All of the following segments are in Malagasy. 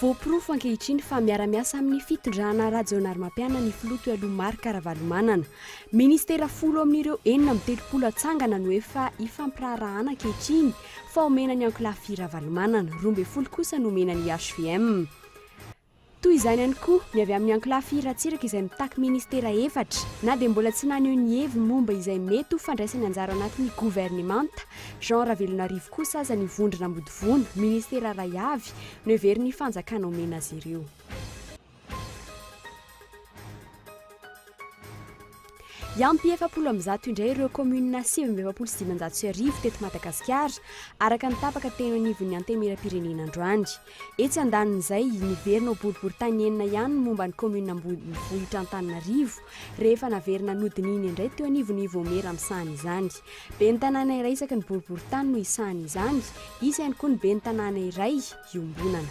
Voaporofo ankehitriny fa miara-miasa amin'ny fitondrana Rajaonarimampianina ny filoha teo aloha Marc Ravalomanana. Ministera folo amin'ireo enina amby telopolo hatsangana no efa ifampiraharahana ankehitriny fa omena ny ankolafy Ravalomanana, roa ambin'ny folo kosa no omena ny hvm. Toy izany ihany koa ny avy amin'ny ankolafy Ratsiraka izay mitaky ministera efatra na dia mbola tsy naneho ny heviny momba izay mety ho fandraisany anjara ao anatin'ny governemanta Jean Ravelonarivo kosa aza ny vondrona mody vono ministera iray avy no heverin'ny fanjakana omena azy ireo. Hiampy efapolo amby zato indray ireo kaominina sivy amby efapolo sy dimanjato sy arivo teto Madagasikara, araka ny tapaka teny anivon'ny Antenimierampirenena androany. Etsy andanin'izay, niverina ho boriborintany enina ihany ny momba ny kaominina ambonivohitra Antananarivo, rehefa naverina nodinihina indray teo anivon'ny Ivomera misahana izany. Ben'ny tanàna iray isaky ny boriborintany no hisahana izany, hisy ihany koa ny ben'ny tanàna iray iombonana.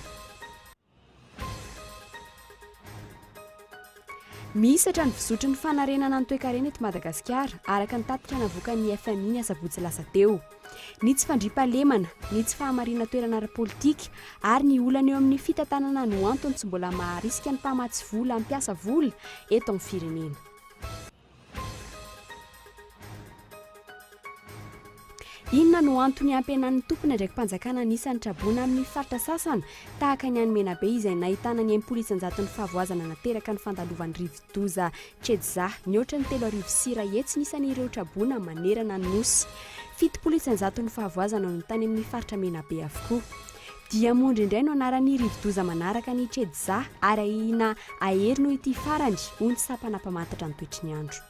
Mihisatra ny fizotry ny fanarenana ny toekarena eto Madagasikara, araka ny tatitra navoakan'ny FMI ny asabotsy lasa teo. Ny tsy fandriampahalemana, ny tsy fahamariana toerana ara-politika ary ny olana eo amin'ny fitantanana no antony tsy mbola maharisika ny mpamatsy vola hampiasa vola eto amin'ny firenena. Inona no antony hampihenan'ny tompon'ny andraiki-panjakana ny isan'ny traboina amin'ny faritra sasana, tahaka ny any Menabe izay nahitana ny enimpolo isan-jaton'ny fahavoazana nateraka ny fandalovan'ny rivodoza Cedza, nihoatra ny telo arivo sy iray hetsy ny isan'ireo traboina manerana ny Nosy. Fitopolo isan-jaton'ny fahavoazana no tany amin'ny faritra Menabe avokoa. Diamondra indray no anaran'ny rivodoza manaraka an'i Chedza ary ahiana hahery noho ity farany, hoy ny sampana mpamantatra ny toetry ny andro.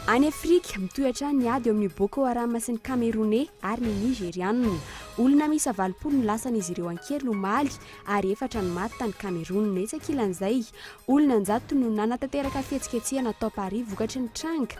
Any Afrika, mitohy hatrany ny ady eo amin'ny Boko Haram sy ny Kameroney ary ny Nigeriana. Olona miisa valopolo no lasan'izy ireo an-keriny omaly ary efatra no maty tany Kamerona. Etsy ankilan'izay, olona an-jatony no nanatanteraka fihetsiketsehana tao Paris vokatry ny tranga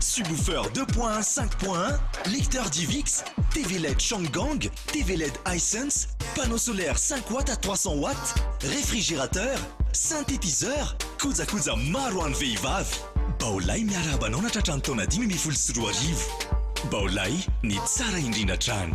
Subwoofer deux point un cinq point un, lecteur DivX, TV led Changgang, TV led Hisense, panneau solaire cinq watts à trois cents watts, réfrigérateur, synthétiseur, kojakoja maro ho an'ny vehivavy. Baolay miarahaba anao natratra ny taona dimy ambin'ny folo sy roa arivo. Baolay, ny tsara indrindra hatrany.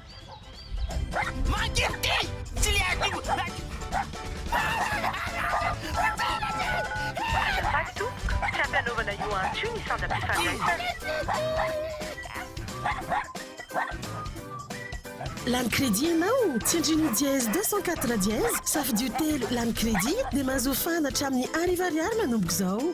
Lany crédit ianao? Tsindrino dièse deux cent quatre dièse, safidio telo lany crédit dia mahazoa fahana hatramin'ny arivo ariary manomboka izao.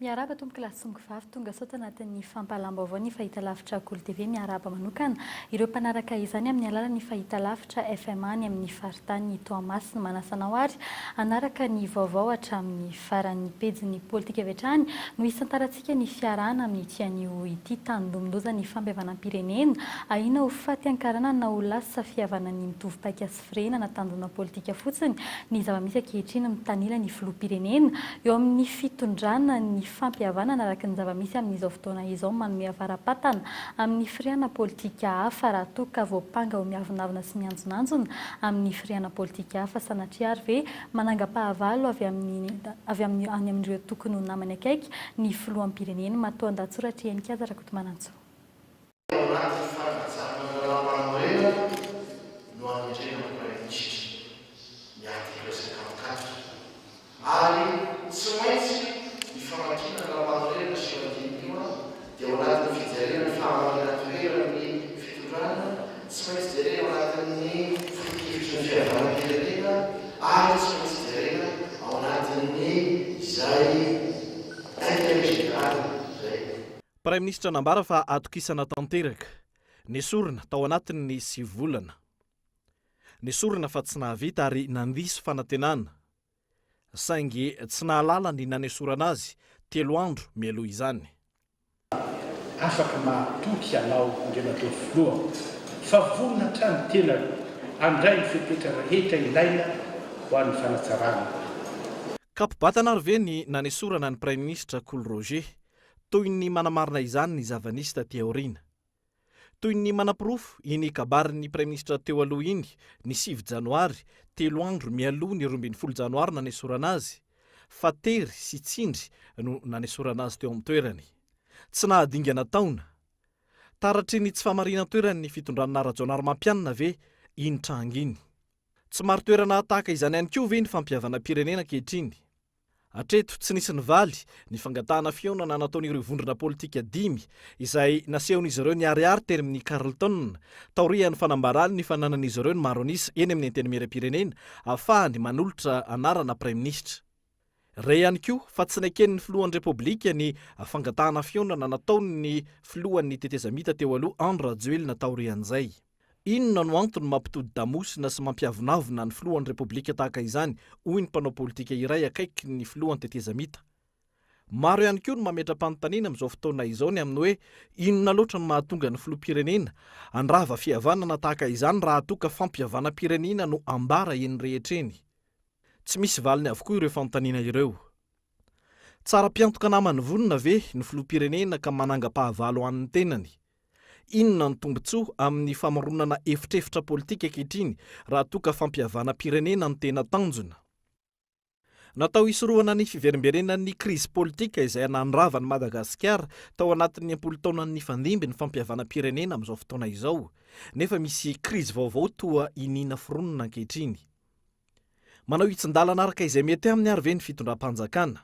Miarahaba Tompoko lahy sy Tompoko vavy tonga sao tanatin'ny fampahalam-baovao ny Fahitalavitra Kolo TV miarahaba manokana ireo mpanaraka izany amin'ny alalan'ny Fahitalavitra FMA any amin'ny Faritanin'i Toamasina manasa anao ary hanaraka ny vaovao hatramin'ny farany ny pejin'ny politika avy hatrany no hisantarantsika ny fiarahana amin'ity anio ity tanindonondozan'ny fampihavanam-pirenena ahiana ho faty ankarana na ho lasa fihavanan'ny mitovy paika Firenena na tanjona politika fotsiny ny zava-misy ankehitriny mitanila ny filoham-pirenena. Eo amin'ny fitondrana ny fampihavanana araka ny zava-misy amin'izao fotoana izao manome avara-patana amin'ny firehana politika hafa raha toa ka voampanga ho miavonavona sy mianjonanjona amin'ny firehana politika hafa sanatria ary ve manangam-pahavalo avy amin'ny any amin'ireo tokony ho namany akaiky ny filoham-pirenena matoandatsoratry Henikaja Rakotomanantsoa. Ao anaty fanajana ny lalàmpanorenana no anendrena ny Praiminisitra ny artikla sy ny antonkaty ary tsy maintsy ny famakiana ny lalàmpanorenana sy io andininy io dia ao anatin'ny fijerena ny fahamarinantoeran' ny fitondrana, tsy maintsy jerena ao anatin'ny foto-kevitry ny fihavanam-pirenena ary tsy maintsy jerena ao anatin'ny izay interet général izay. Praiminisitra nambara fa atokisana tanteraka. Nesorina tao anatin'ny sivy volana. Nesorina fa tsy nahavita ary nandiso fanantenana. Saingy tsy nahalala ny nanesorana azy telo andro mialoha izany. Afaka mahatoky ianao Andriamatoa Filoha fa vonona hatrany ny tenako handray ny fepetra rehetra ilaina ho an'ny fanatsarana. Kapo-batana ary ve ny nanesorana an'i Praiminisitra Kolo Roger toy ny manamarina izany ny zava-nisy taty aoriana. Toy ny manaporofo iny kabarin'ny praiminisitra teo aloha iny, ny sivy janoary, telo andro mialoha ny roa ambin'ny folo janoary nanesorana azy, fa tery sy tsindry no nanesorana azy teo amin'ny toerany. Tsy nahadingana taona. Taratry ny tsy fahamarinan-toeran'ny fitondranà Rajaonarimampianina ve iny tranga iny? Tsy marin-toerana tahaka izany ihany koa ve ny fampihavanam-pirenena ankehitriny? Hatreto, tsy nisy nivaly ny fangatahana fihaonana nataon'ireo vondrona politika dimy izay nasehon'izy ireo niharihary teny amin'ny Carlton, taorian'ny fanambarany ny fananan'izy ireo ny maro an'isa eny amin'ny Antenimierampirenena ahafahany manolotra anarana Praiminisitra. Re ihany koa fa tsy neken'ny Filohan'ny Repoblika ny fangatahana fihaonana nataon'ny Filohan'ny tetezamita teo aloha Andry Rajoelina taorian'izay. Inona no antony mampitodi-damosina sy mampiavonavona ny filohan'ny Repoblika tahaka izany, hoy ny mpanao politika iray akaiky ny filoha an-tetezamita. Maro ihany koa no mametra-panontaniana amin'izao fotoana izao ny amin'ny hoe inona loatra no mahatonga ny filoham-pirenena handrava fihavanana tahaka izany raha toa ka fampihavanam-pirenena no ambara eny rehetra eny. Tsy misy valiny avokoa ireo fanontaniana ireo. Tsara mpiantoka namany vonona ve ny filoham-pirenena ka manangam-pahavalo an'ny tenany? Inona ny tombontsoa amin'ny famoronana efitrefitra politika ankehitriny raha toa ka fampihavanam-pirenena no tena tanjona? Natao hisorohana ny fiverimberenan'ny krizy politika izay nandrava an'i Madagasikara tao anatin'ny am-polo taona nifandimby ny fampihavanam-pirenena amin'izao fotoana izao, nefa misy krizy vaovao toa iniana foronina ankehitriny. Manao hitsin-dalana araka izay mety aminy ary ve ny fitondram-panjakana?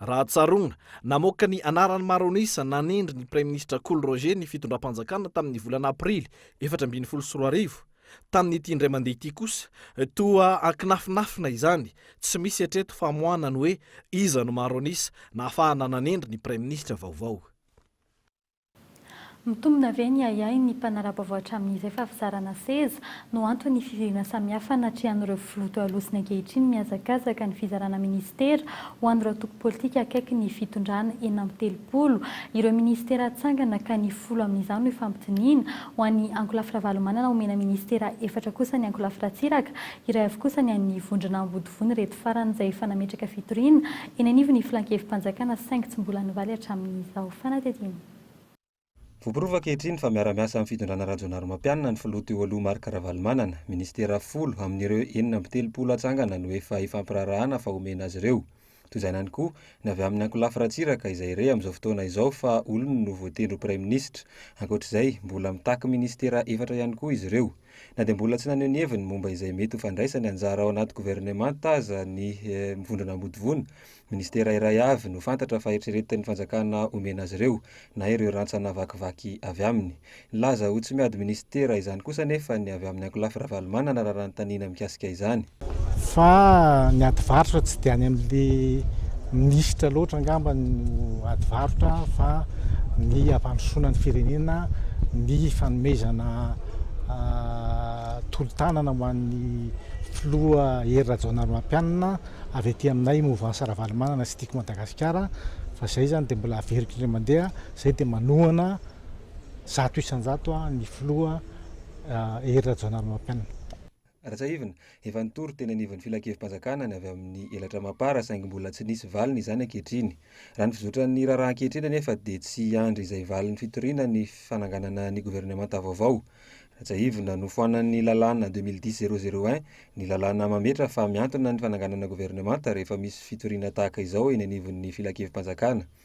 Raha tsaroana, namoaka ny anarany maro an'isa nanendry ny praiminisitra Kolo Roger ny fitondram-panjakana tamin'ny volana aprily efatra ambin'ny folo sy roa arivo. Tamin'ity indray mandeha ity kosa, toa ankinafinafina izany, tsy misy hatreto famoahana ny hoe iza no maro an'isa nahafahana nanendry ny praiminisitra vaovao. Mitombina ve ny ahiahy ny mpanara-baovao hatramin'izay fa fizarana seza no anton'ny fivoriana samihafa anatrehan'ireo filoha toa Aloha sy ny ankehitriny mihazakazaka ny fizarana minisitera ho an'ireo antoko politika akaiky ny fitondrana enina amby telopolo ireo minisitera hatsangana ka ny folo amin'izany ho ifampidiniana ho an'i Ankolafy Ravalomanana omena minisitera efatra kosa an'i Ankolafy Ratsiraka iray avy kosa ny an'ny vondrona Ambodivon'ireto farany izay efa nametraka fitoriana Eny anivon'ny Filan-kevi-panjakana saingy tsy mbola nivaly hatramin'izao fanadihadiana. Voaporofo ankehitriny fa miara-miasa amin'ny fitondrana Rajaonarimampianina ny filoha teo aloha Marc Ravalomanana. Minisitera folo amin'ireo enina amby telopolo hatsangana no efa ifampiraharahana fa homena azy ireo. Toizany ihany koa ny avy amin'ny ankolafy Ratsiraka izay re amin'izao fotoana izao fa olony no voatendry ho praiminisitra. Ankoatr'izay, mbola mitaky minisitera efatra ihany koa izy ireo. Na dia mbola tsy naneho ny heviny momba izay mety ho fandraisany anjara ao anaty governemanta aza ny Vondrona Ambodivona, minisitera iray avy no fantatra fa eritreretin'ny fanjakana omena azy ireo, na ireo rantsana vakivaky avy aminy. Nilaza ho tsy miady minisitera izany kosa anefa ny avy amin'ny ankolafy Ravalomanana raha nanontaniana mikasika izany. Fa ny ady varotra tsy dia any amin'ilay minisitra loatra angamba no ady varotra fa ny hampandrosoana ny firenena, ny fanomezana tolo-tanana ho an'ny filoha Hery Rajaonarimampianina avy aty aminay Mouvance Ravalomanana sy Tiako Madagasikara fa izay izany dia mbola averiko indray mandeha, izay dia manohana zato isan-jato ny filoha Hery Rajaonarimampianina. Raha tsiahivina, efa nitory teny anivon'ny Filankevi-panjakana ny avy amin'ny elatra Mapar saingy mbola tsy nisy valiny izany ankehitriny. Raha ny fizotran'ny raharaha ankehitriny anefa dia tsy hiandry izay valin'ny fitoriana ny fananganana ny governemanta vaovao. Raha tsiahivina, nofoanan'ny lalàna deux mille dix zéro zéro un ny lalàna mametra fa mihantona ny fananganana governemanta rehefa misy fitoriana tahaka izao eny anivon'ny Filankevi-panjakana.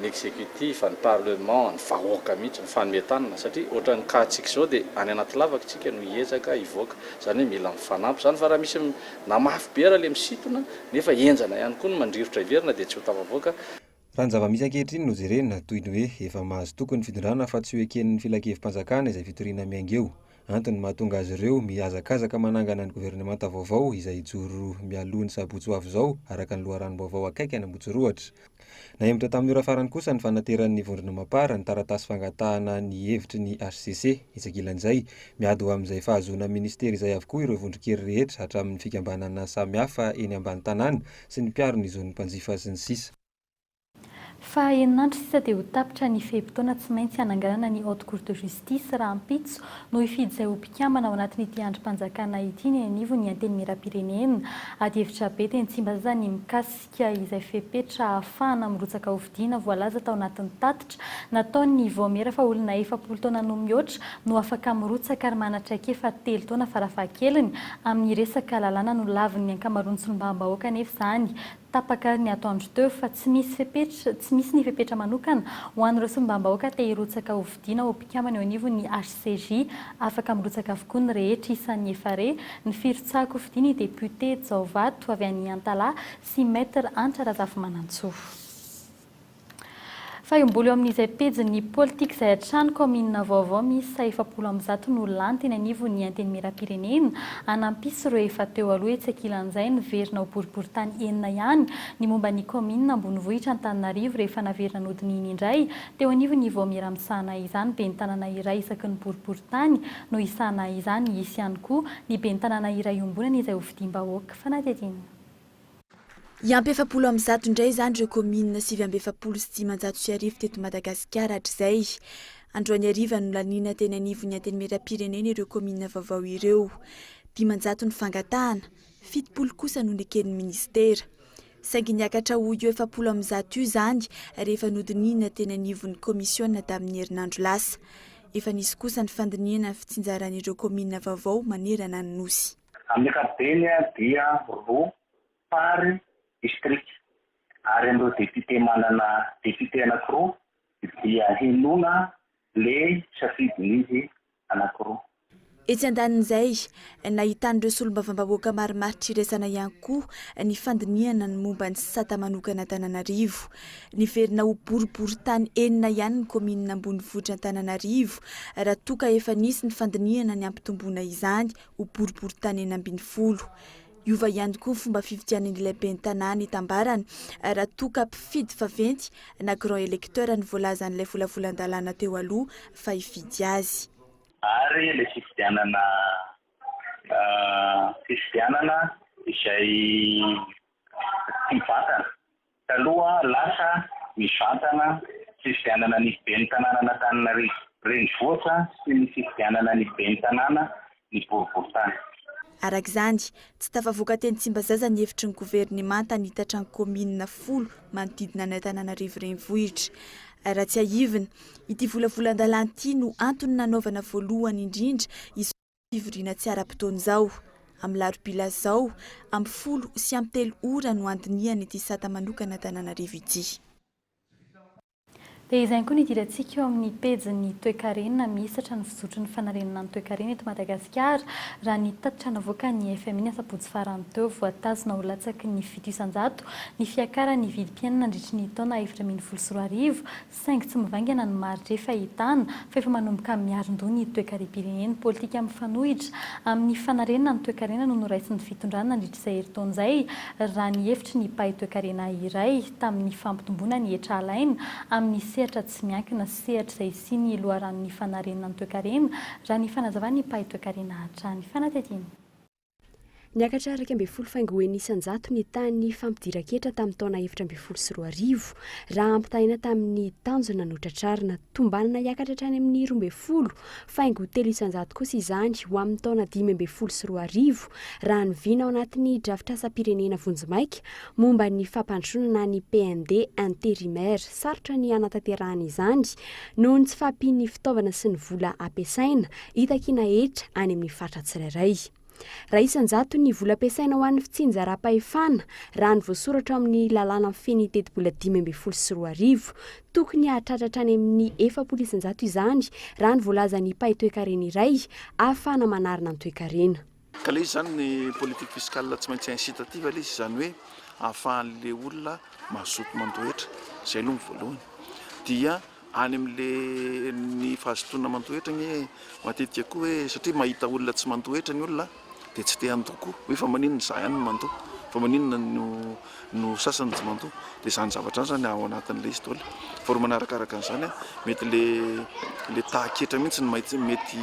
ny executif, ny parlement, ny vahoaka mihitsy mifanome tanana satria ohatran'ny cas-tsika izao dia any anaty lavaka isika no hiezaka hivoaka izany hoe mila mifanampy izany fa raha misy na mafy be ary ilay misintona nefa henjana ihany koa ny mandrirotra hiverina dia tsy ho tafavoaka Raha ny zava-misy ankehitriny no jerena, toy ny hoe efa mahazo toky ny fitondrana fa tsy ho eken'ny filankevi-panjakana izay fitoriana miainga eo. Antony mahatonga azy ireo mihazakazaka manangana ny governemanta vaovao izay hijoro mialoha ny sabotsy ho avy izao, araka ny loharanom-baovao akaiky any Ambojorohitra. Nahemotra tamin'ny ora farany kosa ny fanateran'ny Vondrona Mapar ny taratasy fangatahana ny hevitry ny hcc. Etsy ankilan'izay, miady ho amin'izay fahazoana minisitera izay avokoa ireo vondron-kery rehetra hatramin'ny fikambanana samihafa eny ambany tanàna sy ny mpiaro ny zon'ny mpanjifa sy ny sisa. Fa enin'andro sisa dia ho tapitra ny fe-potoana tsy maintsy hananganana ny Haute Cour de Justice rahampitso no hifidy izay ho mpikambana ao anatin'ity andrim-panjakana ity ny anivon'ny Antenimierampirenena. Adihevitra be teny Tsimbazaza ny mikasika izay fepetra ahafahana mirotsaka hofidiana voalaza tao anatin'ny tatitra nataon'ny Vaomiera fa olona efapolo taona no mihoatra no afaka mirotsaka ary manatraikefa telo taona farafahakeliny amin'ny resaka lalàna nolavin'ny ankamaroan'ny solombavambahoaka anefa izany Tapaka ny ataon-dry teo fa tsy misy fepetra, tsy misy ny fepetra manokana ho an'ireo solombambahoaka te hirotsaka ho fidiana ho mpikambana eo anivon'ny HCJ. Afaka mirotsaka avokoa ny rehetra isan'ny efa re ny firotsahako ho fidian'ny depiote Jaovato avy any Antalaha sy Maître Hantra Razafimanantsoa. Fa iom-bolo eo amin'izay pejin'ny politika izay hatrany kaominina vaovao miisa efapolo amby zato no lany teny anivon'ny Antenimierampirenena hanampisy ireo efa teo aloha etsy ankilan'izay niverina ho boriboritany enina ihany ny momba ny kaominina ambonivohitra Antananarivo rehefa naverina nodinihina indray teo anivon'ny vaomiera misahana izany bentanana iray isaky ny boriboritany no hisahana izany hisy ihany koa ny bentanana iray iombonana izay hofidiam-bahoaka fanadihadiana Hiampy efapolo amby zato indray izany ireo kaominina sivy amby efapolo sy dimanjato sy arivo teto Madagasikara hatrizay. Androany hariva no nalina teny anivon'ny Antenimierampirenena ireo kaominina vaovao ireo. Dimanjato ny fangatahana, fitopolo kosa no neken'ny minisitera. Saingy niakatra ho io efapolo amby zato io izany rehefa nodinihina teny anivon'ny kaomisiona tamin'ny herinandro lasa. Efa nisy kosa ny fandinihana ny fitsinjaran'ireo kaominina vaovao manerana ny Nosy. Amin'ny ankapobeny dia roa par distrika ary amin'ireo depiote manana depiote anankiroa dia henoina le safidin'izy anankiroa. Etsy andanin'izay, nahitan'ireo solombavambahoaka marimaritra iraisana ihany koa ny fandinihana ny momba ny sata manokana Antananarivo. Niverina ho boriborintany enina ihany ny kaominina ambonivohitr'Antananarivo raha toa ka efa nisy ny fandinihana ny hampitomboana izany ho boriboritany enina ambin'ny folo. Hiova ihany koa ny fomba fifidianan'ilay ben'ny tanàna itambarany raha toa ka mpifidy vaventy na grand electeur no voalazan'ilay volavolan-dalàna teo aloha fa hifidy azy. Ary ilay fifidianana fifidianana izay tsy mivantana. Taloha lasa, mivantana fifidianana ny Ben'ny tanànan'Antananarivo renivohitra sy ny fifidianana ny Ben'ny tanàna ny boriborintany. Araka izany, tsy tafavoaka teny Tsimbazaza ny efitry ny governemanta hanitatra ny kaominina folo manodidina an' Antananarivo renivohitra. Raha tsiahivina, ity volavolan-dalàna ity no antony nanaovana voalohany indrindra izao. Fivoriana tsy ara-potoana izao. Amin'ny larobia lasa izao, ampy folo sy ampy telo ora no handinihana ity sata manokana Antananarivo ity. Dia izay koa ny idirantsika eo amin'ny pejin'ny toekarena mihisatra ny fizotry ny fanarenana ny toekarena eto Madagasikara, raha ny tatitra navoakan'ny fmi ny asabotsy farany teo. Voatazona ho latsaky ny fito isan-jato ny fiakaran'ny vidim-piainana nandritry ny taona efatra ambin'ny folo sy roa arivo, saingy tsy mivaingana ny maritra efa ahitana fa efa manomboka miarin-doha ny toekarem-pirenena. Politika mifanohitra amin'ny fanarenana ny toekarena no noraisin'ny fitondrana nandritra izay herintaona izay, raha ny hevitry ny mpahay toekarena iray, tamin'ny fampitomboana ny hetra alaina amin'ny sehatra tsy miankina sy sehatra izay hisian'ny loharanon'ny fanarenana ny toekarena, raha ny fanazavan'ny mpahay toekarena hatrany. Fanatetiana. Niakatra iraika ambin'ny folo faingo eny isan-jato ny tahan'ny fampidiran-ketra tamin'ny taona efatra ambin'ny folo sy roa arivo, raha ampitahaina tamin'ny tanjona notratrarina. Tombanana hiakatra hatrany amin'ny roa ambin'ny folo faingo telo isan-jato kosa izany ho amin'ny taona dimy ambin'ny folo sy roa arivo, raha ny vina ao anatin'ny drafitrasam-pirenena vonjimaika momba ny fampandrosoana ny PND intérimaire. Sarotra ny hanatanterahana izany noho ny tsy fahampian'ny fitaovana sy ny vola ampiasaina hita kiana hetra any amin'ny faritra tsirairay. Raha isan-jato ny vola ampiasaina ho an'ny fitsinjaram-pahefana, raha ny voasoratra ao amin'ny lalàna mifehy ny tetibola dimy ambin'ny folo sy roa arivo, tokony hahatratra hatrany amin'ny efapolo isan-jato izany, raha ny voalazan'ny mpahay toekarena iray ahafahana manarina ny toekarena. Ka ilay izy izany ny politique fiscale tsy maintsy incitative ilay izy izany hoe ahafahan'ilay olona mazoto mandoa hetra, izay aloha ny voalohany. Dia any amin'ilay ny fahazotoana mandoa hetra anie matetika koa hoe satria mahita olona tsy mandoa hetra ny olona dia tsy te handoa koa, hoe fa maninona izaho ihany no mandoa, fa maninona no. no sasany tsy mandoa dia izany zavatra izany zany ao anatin'ilay istôla vao ry manaraka araka an'izany a mety le le tahaketra mihitsy ny maitsy mety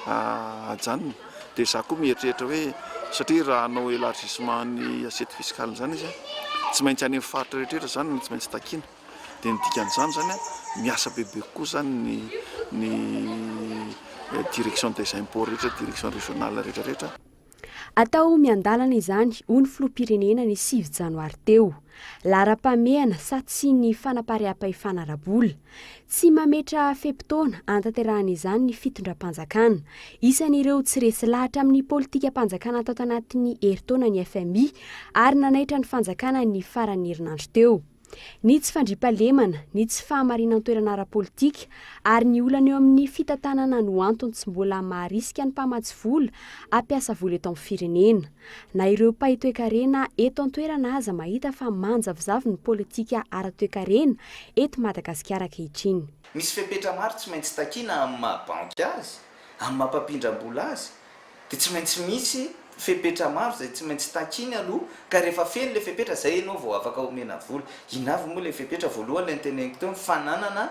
ajanona dia za koa mieritreritra hoe satria raha hanao élargissement ny assiette fiscale zany izy a tsy maintsy any amin'ny faritra rehetrretra zany no tsy maintsy takiana dia ny dikan'izany zany a miasa bebe kokoa zany ny ny direction des impôts rehetra direction régionale rehetrarehetra Atao miandalana izany, hoy ny filoham-pirenena ny sivy janoary teo. Laharam-pahamehana sa tsy ny fanapariaham-pahefana ara-bola? Tsy mametraha fe-potoana hanatanterahana izany ny fitondram-panjakana. Isan'ireo tsy resy lahatra amin'ny politikam-panjakana tato anatin'ny herintaona ny fmi ary nanaitra ny fanjakana ny faran'ny herinandro teo. ny tsy fandriampahalemana, ny tsy fahamarinan-toerana ara-politika ary ny olana eo amin'ny fitantanana no antony tsy mbola maharisika ny mpamatsy vola hampiasa vola eto amin'ny firenena. Na ireo mpahay toekarena eto an-toerana aza mahita fa manjavozavo ny politika ara-toekarena eto Madagasikara ankehitriny. Misy fepetra maro tsy maintsy takiana amin'ny maha-banky azy, amin'ny maha-mpampindram-bola azy, Dia tsy maintsy misy fepetra maro izay tsy maintsy takiny aloha ka rehefa feno ilay fepetra izay ianao vao afaka omena vola. Inona avy moa ilay fepetra? Voalohany ilay noteneniko teo ny fananana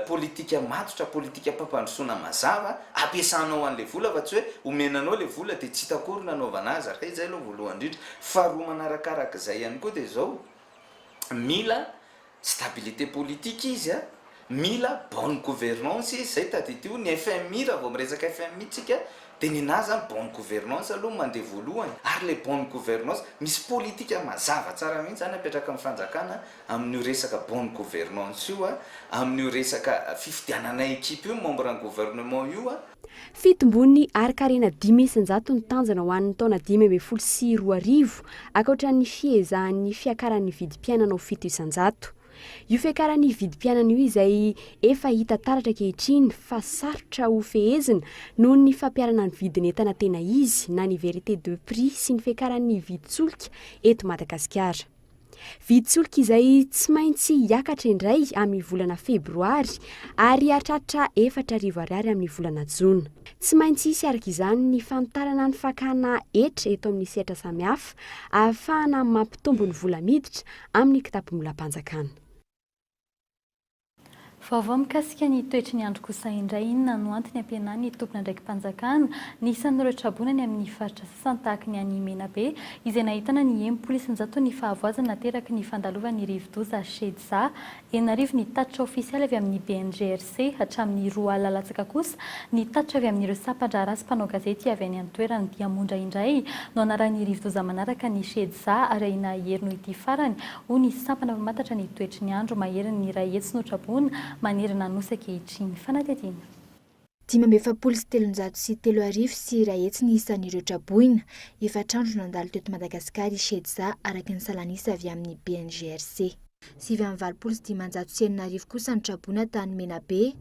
politika matotra, politikam-pampandrosoana mazava ampiasanao an'ilay vola fa tsy hoe omena anao ilay vola dia tsy hita akory ny hanaovana azy. Raha izay aloha voalohany indrindra. Faharoa manarakarak'izay ihany koa dia izao, mila Stabilité politique izy a, mila bonne gouvernance izy, zay tadidio ny FMI raha vao miresaka FMI tsika de nenaha zany bonne gouvernance aloha no mandeha voalohany ary le bonne gouvernance misy politika mazava tsara mihitsy zany apetrakin'ny fanjakana amin'io resaka bonne gouvernance io a, amin'io resaka fifidianana equipe io membre ny gouvernement io a. Fitombon'ny harin-karena dimy isan-jato ny tanjona ho an'ny taona dimy ambin'ny folo sy roa arivo, ankoatran'ny fiezahan'ny fiakaran'ny vidim-piainana ho fito isan-jato. Io fiakaran'ny vidim-piainana io izay efa hita taratra ankehitriny fa sarotra ho fehezina noho ny fampiharana ny vidin'entana tena izy na ny vérité de prix sy ny fiakaran'ny vidin-tsolika eto Madagasikara. Vidy solika izay tsy maintsy hiakatra indray amin'ny volana febroary ary hahatratra efatra arivo ariary amin'ny volana jona. Tsy maintsy hisy araka izany ny fanitarana ny fakana hetra eto amin'ny sehatra samihafa ahafahana mampitombo ny vola miditra amin'ny kitapom-bolam-panjakana. Vaovao mikasika ny toetry ny andro kosa indray, inona no antony ampihenan'ny tompon'andraiki-panjakana ny isan'ireo traboina any amin'ny faritra sasany tahaka ny any Menabe izay nahitana ny enimpolo isan-jaton'ny fahavoazana nateraky ny fandalovan'ny rivodoza Shedza enina arivo ny tatitra ofisialy avy amin'ny BNGRC sy hatramin'ny roa alina latsaka kosa, ny tatitra avy amin'ireo sampan-draharaha sy mpanao gazety avy any an-toerana. Dia Mondra indray no anarahin'ny rivodoza manaraka ny Shedza ary ahiana hahery noho ity farany, hoy ny sampana mpamantatra ny toetry ny andro maherin'ny iray hetsy notraboina manerana ny Nosy ankehitriny. Fanadihadiana. Dimy amby efapolo sy telonjato sy telo arivo sy iray hetsy ny isan'ireo traboina. Efatra andro nandalo teto Madagasikara i Shedza, araka ny salan'isa avy amin'ny BNGRC. Sivy amby valopolo sy dimanjato sy enina arivo kosa ny traboina tany Menabe.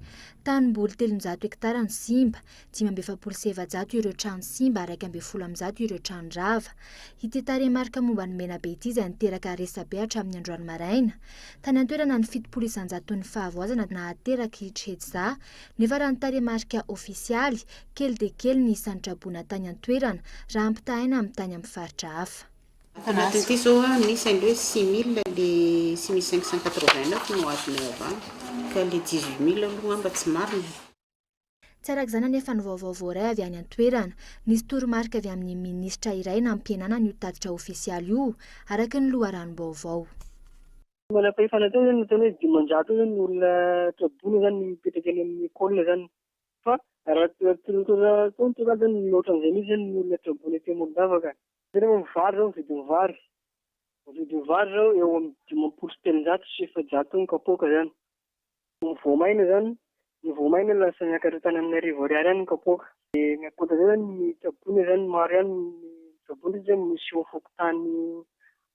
Tanimboly telonjato hektara no simba, dimy amby efapolo sy efajato ireo trano simba ary iraika ambin'ny folo amby zato ireo trano rava. Ity tarehimarika momba ny Menabe ity izay niteraka resabe hatramin'ny androany maraina. Tany an-toerana ny fitopolo isanjaton'ny fahavoazana nahateraka hitry Hetza nefa raha ny tarehimarika ofisialy, kely dia kely ny isan'ny traboina tany an-toerana raha ampitahaina amin'ny tany amin'ny faritra hafa. Ato anatin ity zao a misy anle six mille le six mille cinq cent quatre vingt neuf no azonay avy any ka le dix huit mille aloha ngamba tsy marina e. Tsy araka izany anefa ny vaovao voaray avy any an-toerana. Nisy toromarika avy amin'ny minisitra iray nampihenanana io tatitra ofisialy io, araka ny loharanom-baovao. Ny manam-pahefana teo izany nataony hoe dimanjato eo izany ny olona traboina izany no mipetraka eny amin'ny ecole izany. Fa raha tsy ny toromarika izany, mihoatra an'izay mihitsy izany ny olona traboina ety Amorondava ka. Jereo ny vary zao ny vidin'ny vary. Ny vidin'ny vary zao eo amin'ny dimampolo sy telonjato sy efajato eo ny kapoaka zany. Ny voamaina zany, ny voamaina lasa niakatra tany amin'ny arivo ariary any ny kapoaka. De ny ankoatran'izay zany ny tsaboina zany maro ihany ny tsaboina satria misy eo fokontany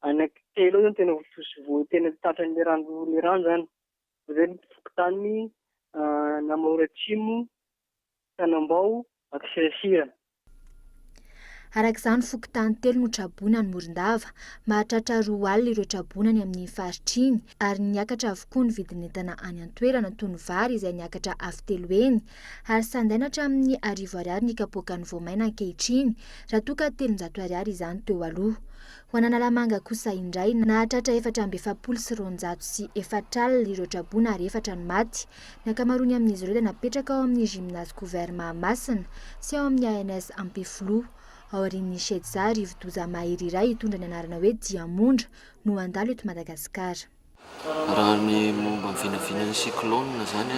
anaky telo eo zany tena voatosy vo tena tratran'le rano le rano zany. Zay ny fokontany Namahora Atsimo. Tanambao, Akisirasirana. Araka izany, fokontany telo no traboina any Morondava. Mahatratra roa alina ireo traboina any amin'iny faritra iny, ary niakatra avokoa ny vidin'entana any an-toerana, toy ny vary izay niakatra avo telo heny, ary sandaina hatramin'ny arivo ariary ny kapoakan'ny voamaina ankehitriny, raha toa ka telonjato ariary izany teo aloha. Ho an'Analamanga kosa indray, nahatratra efatra amby efapolo sy roanjato sy efatra alina ireo traboina ary efatra no maty. Ny ankamaroany amin'izy ireo dia napetraka ao amin'ny Gymnase Couvert Mahamasina sy ao amin'ny ANS Ampefiloha. Aorian'ny Shedza, rivodoza mahery iray hitondra ny anarana hoe Diamondra no handalo eto Madagasikara. Raha ny momba ny vinavinan'ny cyclone izany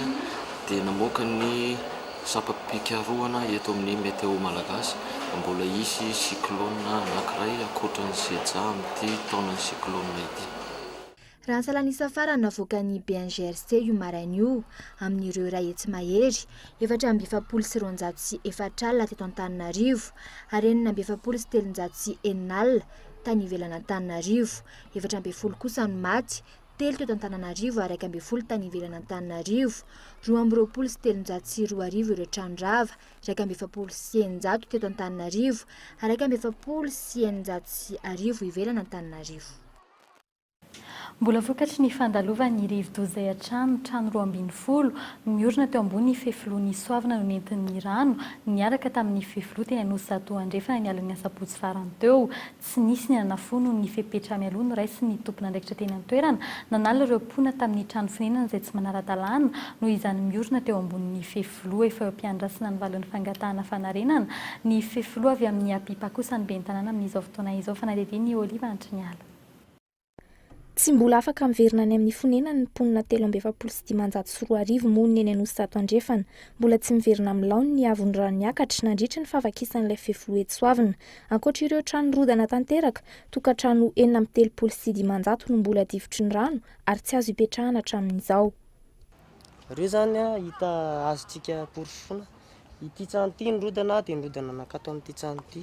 dia namoaka ny sampam-pikarohana eto amin'ny Météo Malagasy fa mbola hisy cyclone anankiray ankoatran'ny Shedza amin'ity taonan'ny cyclone ity. Raha ny salan'isa farany navoakan'ny BNGRC io maraina io, amin'ireo iray hetsy mahery, efatra amby efapolo sy roanjato sy efatra alina teto Antananarivo ary enina amby efapolo sy telonjato sy enina alina tany ivelan'Antananarivo. Efatra ambin'ny folo kosa no maty, telo teto Antananarivo ary iraika ambin'ny folo tany ivelan'Antananarivo. Roa amby roapolo sy telonjato sy roa arivo ireo trano rava, iraika amby efapolo sy eninjato teto Antananarivo ary iraika amby efapolo sy eninjato sy arivo ivelan'Antananarivo. Mbola vokatry ny fandalovan'ny rivodoza izay hatrany trano roa ambin'ny folo miorina teo ambony fefiloha nisoavana no nentin'ny rano niaraka tamin'ny fefiloha teny Anosizato Andrefana ny alin'ny asabotsy farany teo. Tsy nisy ny nanafohy noho ny fepetra mialoha noraisin'ny tompon'andraikitra teny an-toerana nanala ireo mponina tamin'ny trano fonenana izay tsy manara-dalàna noho izany miorina teo ambonin'ny fefiloha efa eo am-piandrasana ny valin'ny fangatahana fanarenana ny fefiloha avy amin'ny APIPA kosa ny ben'ny tanàna amin'izao fotoana izao fanadihadian'ny Olive Antriniala. Tsy mbola afaka miverina any amin'ny fonenany ny mponina telo amby efapolo sy dimanjato sy roa arivo monina eny Anosizato Andrefana. Mbola tsy miverina amin'ny laoniny ny haavon'ny rano niakatra nandritry ny fahavakisan'ilay fefiloha etsy Soavina. Ankoatra ireo trano nirodana tanteraka, tokantrano enina amby telopolo sy dimanjato no mbola difotry ny rano ary tsy azo ipetrahana hatramin'izao. Ireo izany hita azontsika porofoina. Ity trano ity nirodana dia nirodana nankato amin'ity trano ity.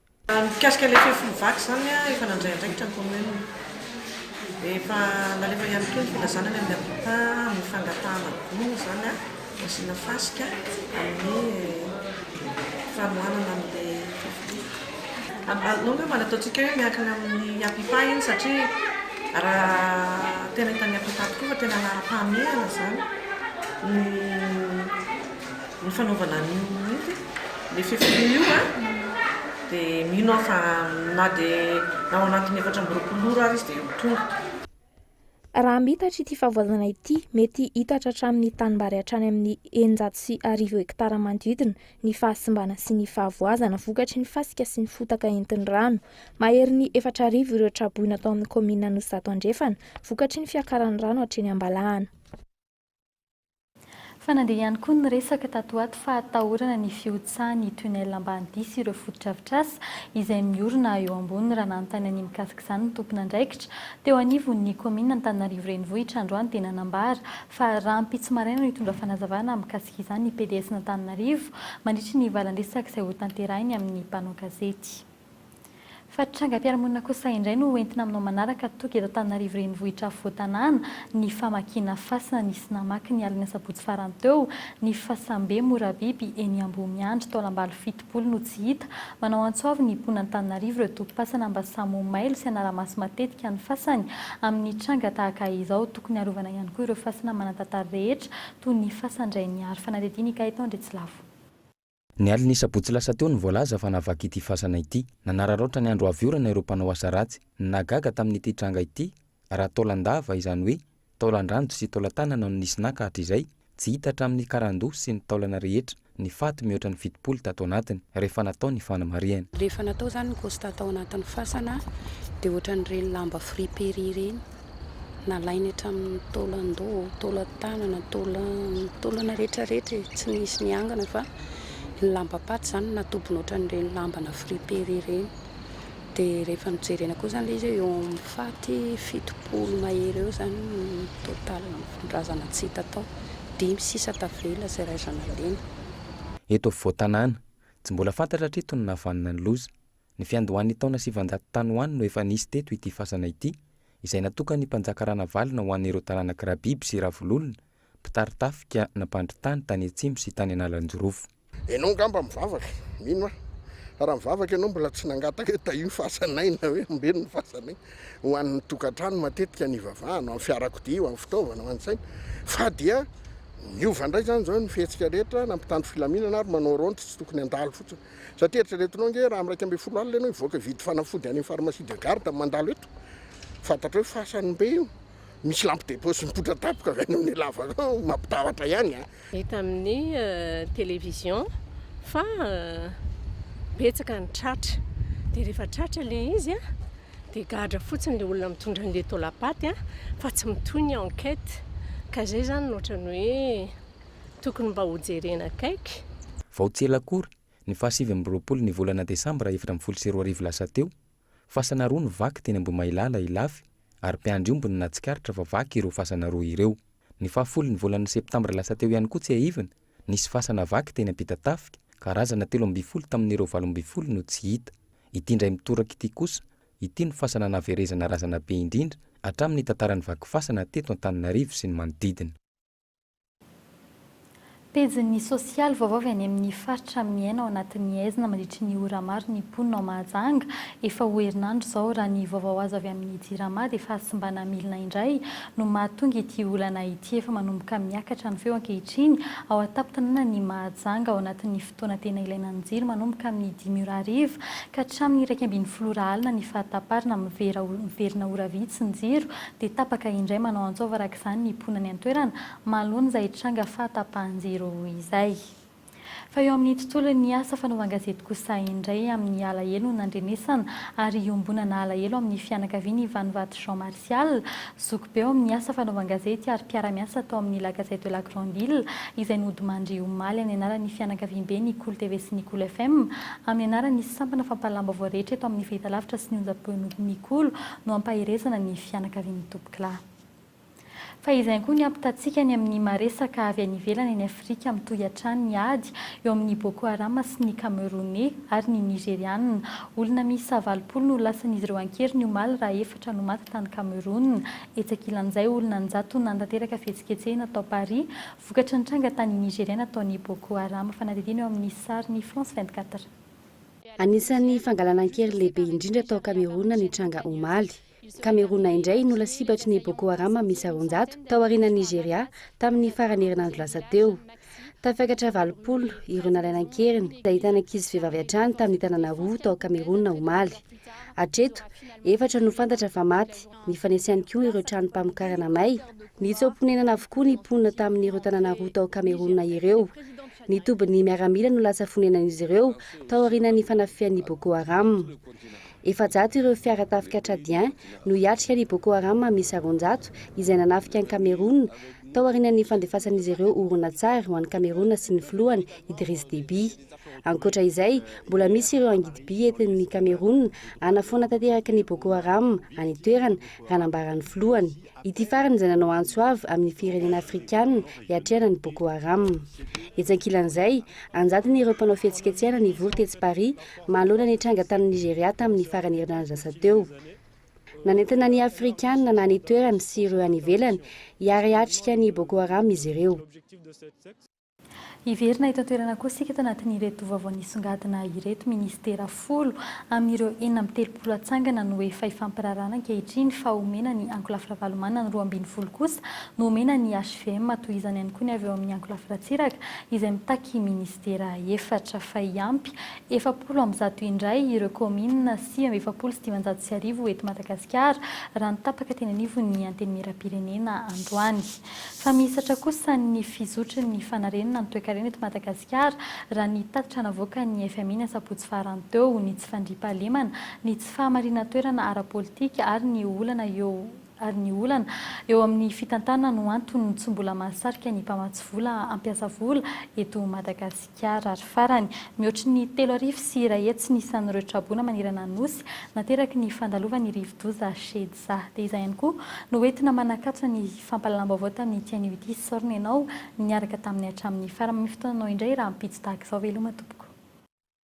Raha ny mikasika ilay fefin'ny vaky izany, efa nandray andraikitra ny Kaominina. Efa nalefa ihany koa ny filazana any amin'ny Habitat ny fangatahana gony izany ho asiana fasika amin'ny fanohanana an'ilay fefin'ny vaky. Aleo angamba ny ataontsika hoe miankina amin'ny Habitat iny satria raha tena hitan'ny Habitat tokoa fa tena laharam-pahamehana izany no. ny fanaovana an'io inona moa izy ty? le fefiloha io an, dia mino aho fa na dia na ao anatin'ny efatra amby roapolo ora ary izy dia ho tonga. Raha mitatra ity fahavoazana ity, mety hitatra hatramin'ny tanimbary hatrany amin'ny eninjato sy arivo hektara manodidina ny fahasimbana sy ny fahavoazana vokatry ny fasika sy ny fotaka entin'ny rano. Maherin'ny efatra arivo ireo tra-boina tao amin'ny kaominina Anosizato Andrefana vokatry ny fiakaran'ny rano hatreny Ambalahana. Fa nandeha ihany koa ny resaka tato ho ato fa hatahorana ny fihotsahan'ny tunnel Ambanidia sy ireo fotodrafitrasa izay miorina eo amboniny raha nanontany an'ny mikasika izany ny tompon'andraikitra teo anivon'ny kaominina Antananarivo Renivohitra androany dia nanambara fa rahampitso maraina no hitondra fanazavana mikasika izany ny PDSn'Antananarivo mandritra ny valandresaka izay hotanterahiny amin'ny mpanao gazety. Fa trangam-piarahamonina kosa indray no hoentina aminao manaraka toky eto Antananarivo renivohitra afovoan-tanàna, ny famakiana fasana nisy namaky ny alin'ny asabotsy farany teo, ny fasambe Morabiby eny Ambohimiandry taolam-balo fitopolo no tsy hita, manao antso avo ny mponina Antananarivo ireo tokipasana mba samy ho mailo sy hanara-maso matetika ny fasany amin'ny tranga tahaka izao, tokony arovana ihany koa ireo fasana manan-tantara rehetra toy ny fasan-dRainihary Fanadedinika eto Andriatsilavo. Ny alin'ny sabotsy lasa teo no voalaza fa nahavaky ity fasana ity. Nanararaotra ny andro avy orana ireo mpanao asa ratsy. Ny nahagaga tamin'ity tranga ity, raha taolan-dava, izany hoe taolan-dranjo sy taolan-tanana no nisy naka hatrizay, tsy hita hatramin'ny karandoha sy ny taolana rehetra ny faty mihoatra ny fitopolo tato anatiny, rehefa natao ny fanamarihana. Rehefa natao izany ny constat tao anatin'ny fasana dia ohatran'ireny lamba friperie ireny. Nalainy hatramin'ny taolan-doha, taolan-tanana, taolan, taolana rehetra rehetra e, tsy nisy niangana fa ny lambam-paty izany natobony ohatran'ireny lambana friper ireny. Dia rehefa nojerena koa izany ilay izy eo amin'ny faty fitopolo mahery eo izany ny total razana tsy hita tao. Dimy sisa tavela izay raizana lena. Eto afovoan-tanàna. Tsy mbola fantatra hatreto ny nahavanona ny loza. Ny fiandohan'ny taona sivanjato tany ho any no efa nisy teto ity fasana ity, izay natokan'ny mpanjaka Ranavalona ho an'ireo taranak'i Rabiby sy Ravololona, mpitari-tafika na mpandry tany tany atsimo sy tany Analanjirofo. Enao ngamba mivavaka, mino aho, fa raha mivavaka ianao mbola tsy nangataka hoe tahio ny fasanay na hoe ombeno ny fasanay. Ho an'ny tokantrano matetika no ivavahana, ho an'ny fiarakodia, ho an'ny fitaovana, ho an'ny saina, fa dia miova indray izany izao ny fihetsika rehetra na mpitandro filaminana ary manao raonty tsy tokony handalo fotsiny. Satria eritreretinao ange raha am iraika ambin'ny folo alina ianao hivoaka hividy fanafody any am pharmacie de garde mandalo eto fantatrao hoe fasan be io misy lampe de poche mipoitra tapoka avy any amin lavaka ao mampitahotra ihany a. Hita amin'ny television fa betsaka ny tratra dia rehefa tratra le izy a dia gadra fotsiny le olona mitondra an'le taolapaty a fa tsy mitohy ny enquête ka zay zany no ohatran'ny hoe tokony mba ho jerena akaiky. Vao tsy ela akory, ny fahasivy amby roapolo ny volana desambra efatra ambin'ny folo sy roa arivo lasa teo, fasana roa no vaky teny Ambohimahilala Ilafy ary mpiandry omby no nahatsikaritra fa vaky ireo fasana roa ireo. Ny fahafolo ny volana septambra lasa teo ihany koa tsiahivina, nisy fasana vaky teny Ampitatafika, karazana telo ambin'ny folo tamin'ireo valo ambin'ny folo no tsy hita. Ity indray mitoraka ity kosa, ity no fasana nahaverezana razana be indrindra hatramin'ny tantaran'ny vaky fasana teto Antananarivo sy ny manodidina. Pejin'ny sosialy vaovao avy any amin'ny faritra miaina ao anatin'ny aizina mandritry ny ora maro ny mponina ao Mahajanga. Efa ho herinandro izao, raha ny vaovao azo avy amin'ny Jirama, dia fahasimbana milina indray no mahatonga ity olana ity. Efa manomboka miakatra ny feo ankehitriny ao an-tampon-tanànan'i Mahajanga ao anatin'ny. Fotoana tena ilaina ny jiro manomboka amin'ny dimy ora hariva ka hatramin'ny iraika ambin'ny folo ora alina ny fahataparana mivera miverina ora vitsy ny jiro dia tapaka indray manao antsaova araka izany ny mponany an-toerana mahaloany izay tranga fahatapahan-jiro izay fa eo amin'ny tontolon'ny asa fanaovan-gazety kosa indray amin'ny alahelo no nandrenesana ary iombonana alahelo amin'ny fianakavian'i Vanovato Jean Marie Sosialy, zoky be ao amin'ny asa fanaovan gazety ary mpiara-miasa tao amin'ny La Gazette de la Grande Ile, izay nodimandry omaly any anaran'ny fianakaviambe ny Cool TV sy ny Cool FM, amin'ny anaran'ny sampana fampahalalam-baovao rehetra eto amin'ny fahitalavitra sy ny onjam-peo ny Cool no hampaherezana ny fianakavian'ny tompoklah. Fa izay ihany koa ny hampitantsika ny amin'ny maresaka avy any ivelany any Afrika mitohy hatrany ny ady eo amin'ny Boko Haram sy ny Kameroney ary ny Nigeriana, olona miisa valopolo no lasan'izy ireo an-keriny omaly raha efa Trano maty tany Cameroun. Etsy ankilan'izay, olona an-jatony nanatanteraka fihetsiketsehina tao Paris, vokatry ny tranga tany Nigeria nataon'ny Boko Haram. Fanadihadiana eo amin'ny sarin'i France vingt-quatre. Anisan'ny fangalana an-kery lehibe indrindra tao Cameroun ny tranga omaly. Cameroun indray no lasibatry ny Boko Haram miisa roanjato, taorianan'i Nigeria, tamin'ny faran'ny herinandro lasa teo. Tafakatra valopolo ireo nalaina an-keriny nahitana ankizy vehivavy hatrany tamin'ny tanàna roa tao Kamerona omaly. Hatreto, efatra no fantatra fa maty. Nifanesy ihany koa ireo tranom-pamokarana may. Nitsoa-ponenana avokoa ny mponina tamin'ireo tanàna roa tao Kamerona ireo. Ny tobin'ny miaramila no lasa fonenan'izy ireo taorian'ny fanafihan'ny Boko Haram. Efajato ireo fiara tafika Tchadien no hiatrika ny Boko Haram miisa roanjato izay nanafika an'i Kamerona tao aorianan'ny fandefasan'izy ireo horonantsary ho an'i Kamerona sy ny filohany Idriss Deby. Ankoatra izay, mbola misy ireo angidim-by entin'ny Kamerona hanafoana tanteraka ny Boko Haram any an-toerana, raha nambaran'ny filohany. Ity farany izay nanao antso avo amin'ny firenena afrikanina hiatrehana ny Boko Haram. Etsy ankilan'izay, an-jatony ireo mpanao fihetsiketsehana nivory tetsy Paris, manoloana ny tranga tany Nigeria tamin'ny faran'ny herinandro lasa teo. Nanentana ny Afrikanina na ny toerany sy ireo any ivelany hiary hiatrika ny Boko Haram izy ireo. Hiverina eto an-toerana koa isika tanatin'ireto vaovao nisongadina ireto, Minisitera folo amin'ireo enina amby telopolo hatsangana no efa hifampirarahana ankehitriny fa homena ny Ankolafy Ravalomanana ny roa ambin'ny folo kosa no homena ny HVM, tohizany ihany koa ny avy eo amin'ny Ankolafy Ratsiraka izay mitaky Minisitera. Vera efatra fa hiampy efapolo amby zato indray ireo kaominina sivy amby efapolo sy dimanjato sy arivo eto Madagasikara, raha ny tapaka teny anivon'ny Antenimierampirenena androany. Fa mihisatra kosa ny fizotry ny fanarenana ny toekarena eto Madagasikara, raha ny tatitra navoakan'ny FMI ny asabotsy farany teo, ny tsy fandriampahalemana, ny tsy fahamarinan-toerana ara-politika ary ny olana eo ary ny olana eo amin'ny fitantanana no antony tsy mbola mahasarika ny mpamatsy vola hampiasa vola eto Madagasikara. Ary farany, mihoatry ny telo arivo sy iray hetsy ny isan'ireo traboina manerana ny Nosy nateraky ny fandalovan'ny rivodoza Shedza. Dia izay ihany koa no hoentina manakatso ny fampahalalam-baovao tamin'ity anio ity. Isaorana ianao niaraka taminy hatramin'ny faran'ny fotoananao indray rahampitso tahaka izao. Veloma tompoko.